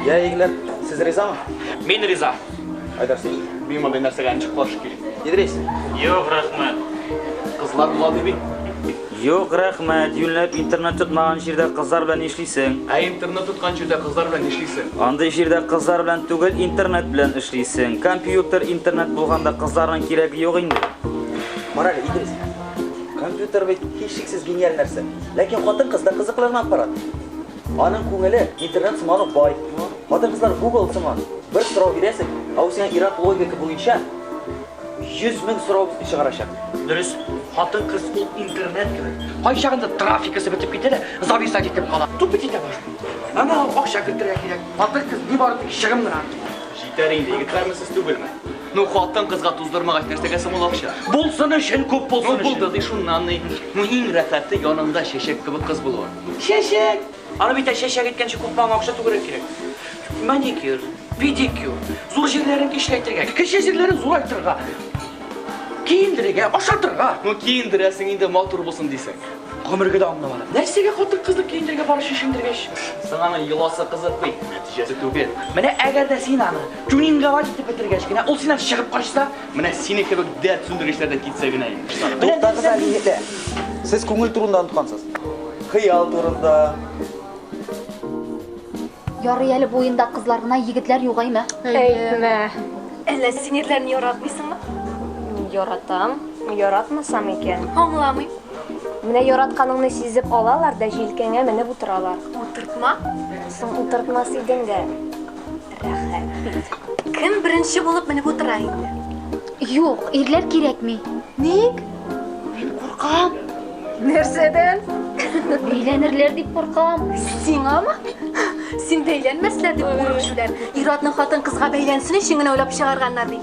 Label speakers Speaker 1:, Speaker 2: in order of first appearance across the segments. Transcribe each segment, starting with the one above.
Speaker 1: Я, егетләр, сез ризамы? Мин риза.
Speaker 2: Айдар, син?
Speaker 1: Мин мондый нәрсәгә
Speaker 2: ничек каршы килим? Идрис? Юк,
Speaker 1: рәхмәт.
Speaker 2: Кызлар булады бит. Юк,
Speaker 3: рәхмәт. Юнләп интернет тотмаган җирдә кызлар белән эшлисең. Ә интернет тоткан
Speaker 2: җирдә кызлар белән эшлисең. Андый җирдә кызлар
Speaker 3: белән түгел, интернет белән эшлисең. Компьютер, интернет булганда кызларның кирәге юк инде. Мораль,
Speaker 1: Идрис. Компьютер бит һичшиксез гениаль нәрсә. Ләкин хатын-кызда кызыклырын аппарат. Аның күңеле интернет сыман ук бай. Хатын-кызлар Google сыман. Бер сорау бирәсең, ә ул сиңа ир-ат логика буенча 100 мең сорау чыгарачак. Дөрес,
Speaker 2: хатын-кыз ул интернет кебек. Кайчагында трафикасы бетеп китә дә, зависать итеп кала. Тупит итә башлый. Аңа акча кертергә кирәк. Хатын-кыз ни бары тик чыгым гына. Җитәр инде, егетләрме сез түгелме? Ну, хатын-кызга туздырмагач, нәрсәгә соң ул акча? Булсын өчен, күп булсын өчен. Ну, булды ди шуннан ни. Ну, иң рәхәте янында чәчәк кебек кыз булуы. Чәчәк! Аны бит әчә чәк иткәнче күпме аңа акча түгәрәк кирәк. Маникюр, педикюр, зур җирләрен кичләйтергә, кече җирләрен зурайтырга, киендерергә, ашатырга. Ну киендерәсең инде матур булсын дисең. Гомергә дә аңламады. Нәрсәгә хатын кызны киендергә бар чишендергәч? Соң аның йоласы кызык бит, нәтиҗәсе түгел. Менә әгәр дә син аны тюнинговать итеп бетергәч кенә, ул синнән чыгып качса, Менә сине кебек дәрт сүндергечләр дә китсә генә инде. Туктагыз әле,
Speaker 1: егетләр. Сез күңел турында оныткансыз. Хыял турында.
Speaker 4: Ярый әле бу уенда кызлар гына, егетләр югаймы? Әйтмә.
Speaker 5: Әллә
Speaker 6: синерләрне яратмыйсыңмы? Яратам.
Speaker 5: Яратмасам икән. Аңламыйм.
Speaker 6: Менә
Speaker 5: яратканыңны сизеп алалар да җилкәңә менеп утыралар. Утыртма.
Speaker 6: Соң
Speaker 5: утыртмас идең дә. Кем
Speaker 6: беренче булып менеп утыра инде? Юк,
Speaker 4: ирләр кирәкми. Ник?
Speaker 6: Мин куркам. Нәрсәдән?
Speaker 4: Бәйләнерләр дип куркам. Сиңамы?
Speaker 6: Син бәйләнмәсләр дип курыкчүләр. Иратның хатын кызга бәйләнсен өчен генә уйлап чыгарганнар бит.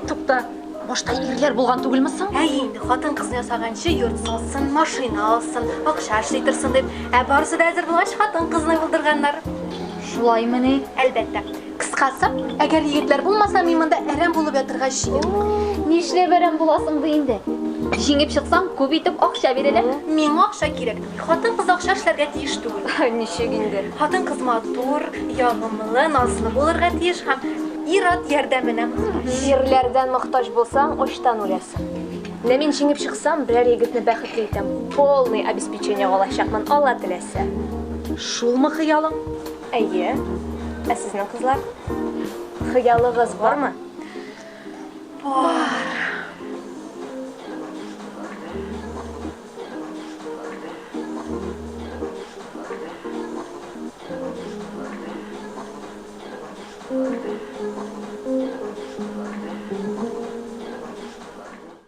Speaker 6: Тукта,
Speaker 4: башта ирләр булган түгелме соң? Ә инде хатын
Speaker 6: кызны ясаганчы йорт салсын, машина алсын, акча эшли торсын дип. Ә барысы да әзер булгач, хатын кызны булдырганнар. Шулаймыни?
Speaker 4: Әлбәттә.
Speaker 6: Кыскасы, әгәр егетләр булмаса, мин монда әрәм булып ятырга җыен. Нишләп әрәм
Speaker 4: буласың ди инде? Җиңеп чыксаң, күп итеп акча бирәләр. Миңа акча кирәк.
Speaker 6: Хатын кыз акча эшләргә тиеш түгел. Ничек инде?
Speaker 5: Хатын кыз
Speaker 6: матур, ягымлы, назлы булырга тиеш һәм ир-ат ярдәменә мохтаҗ. Ирләрдән
Speaker 5: мохтаҗ булсаң, очтан үләсең. Менә мин җиңеп чыксам, берәр егетне бәхетле итәм. Полный обеспечение алачакмын, Алла теләсә. Шулмы
Speaker 6: хыялың? Әйе.
Speaker 5: Ә сезнең кызлар? Хыялыгыз бармы?
Speaker 6: Бар.